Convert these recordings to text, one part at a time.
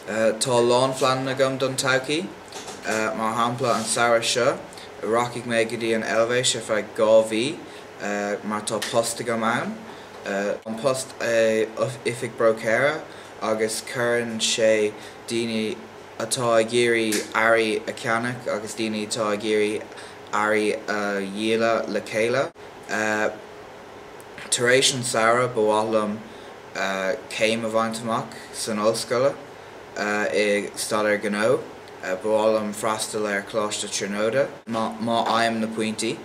Tá a lán phleananna agam don todhchaí. Mar shampla, an samhradh seo, rachaidh mé go dtí an Eilvéis ar feadh dhá mhí mar tá post agam ann. An post é oifig bróicéir agus cuireann sé daoine. atá ag iarraidh earraí a cheannach agus daoine atá ag iarraidh earraí a dhíoladh le chéile. Tar éis an samhradh ba mhaith liom céim a bhaint amach san ollscoile i Staidéar Gnó. Ba mhaith liom freastal ar Choláiste Tríonóide. Má fhaighim na pointí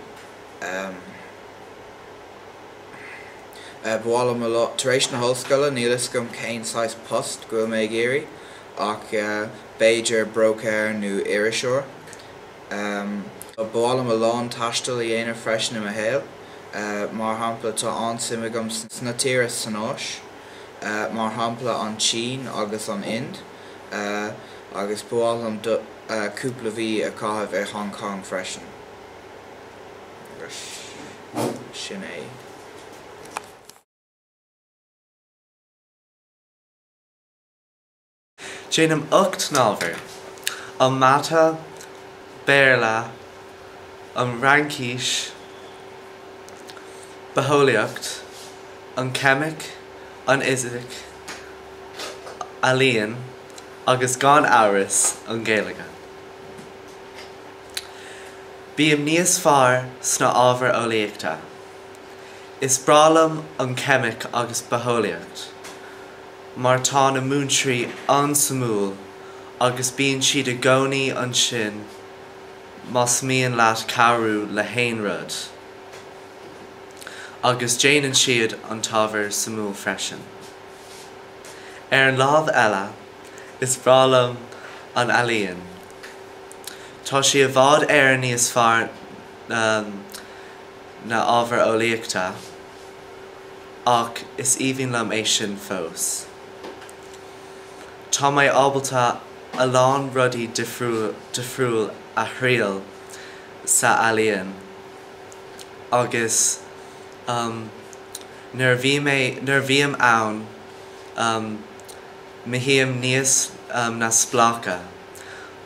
ba mhaith liom a Tar éis na hollscoile níl fhios agam cén saghas post go bhfuil mé ag iarraidh. Ach b'fhéidir bróicéir nó iriseoir. Ba mhaith liom a lán taistil a dhéanamh freisin i mo shaol. Mar shampla, tá an-suim agam sna tíre san Áis, mar shampla an tSín agus an Ind, agus ba mhaith liom cúpla mhí a chaitheamh i Hong Kong freisin. Sin é. Déanaim ocht n-ábhar, an mata, Béarla, an Fhraincis, bitheolaíocht, an cheimic, an fhisic, ealaíon agus gan amhras an Ghaeilge. Bím níos fearr sna ábhair eolaíochta. Is breá liom an cheimic agus bitheolaíocht. mar tá na múinteoirí an-suimiúil agus bíonn siad i gcónaí ansin más mian leat cabhrú le haon rud. Agus déanann siad an t-ábhar suimiúil freisin. Ar an lámh eile, is breá liom an ealaíon. Tá sí i bhfad Éireann níos fearr ná na ábhair eolaíochta. Ach is aoibhinn liom é sin fós. Tá mé ábalta a lán rudaí difriúil a thriail sa ealaíon agus nuair a bhím ann, mothaím níos neamhspleácha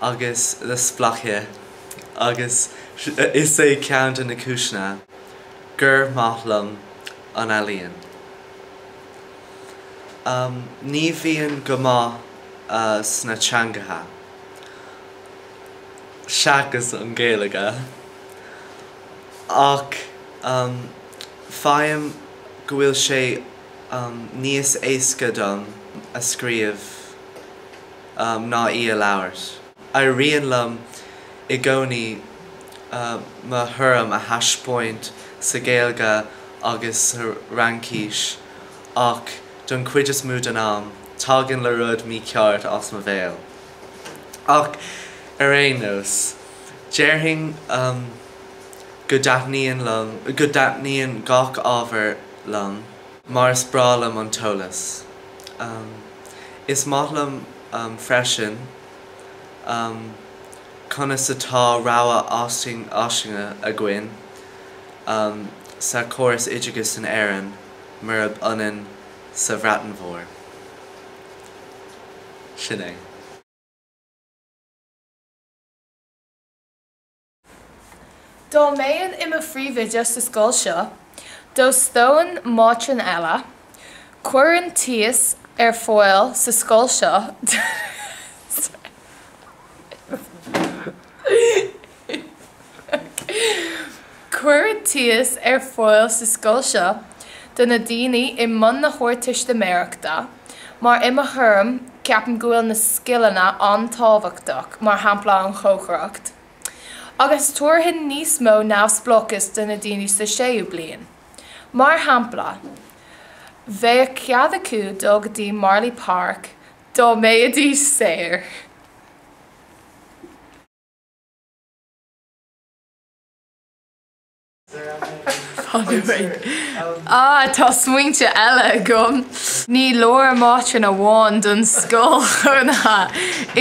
agus neamhspleácha agus is é ceann de na cúiseanna. gur maith liom an ealaín. Ní bhíonn go maith sna teangacha, seachas an Ghaeilge, ach faighim go bhfuil sé níos éasca dom a scríobh ná í a labhairt. Éiríonn liom i gcónaí mo thuairim a thaispeáint sa Ghaeilge agus sa Fhraincís ach don chuid is mó den am, tagann an rud mícheart as mo bhéal. Ach ar aon nós, déarfainn go dtaitníonn liom, go dtaitníonn gach ábhar liom mar is breá liom an t-eolas. Is maith liom. freisin conas atá rogha fhairsing againn sa chóras oideachais in Éirinn murab ionann sa Bhreatain Mhór. Sin é. Dá mbeinn i mo phríomhoide sa scoil seo, d'óstóinn mátrún eile. Chuirfinn tíos ar fáil sa scoil seo do na daoine i mbun na hArdteistiméireachta, mar i mo thuairim, ceapaim go bhfuil na scileanna an-tábhachtach, mar shampla an chócaireacht. Agus tabharfainn níos mó neamhspleáchas do na daoine sa séú bliain. Mar shampla, bheadh cead acu dul go dtí Marlay Park dá mbeidís saor. Á, tá smaointe eile agam. Ní leor mátrún amháin don scoil chónaithe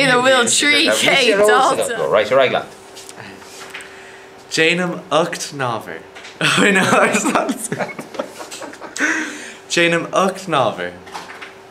ina bhfuil trí chéad dalta. Déanaim ocht n-ábhar.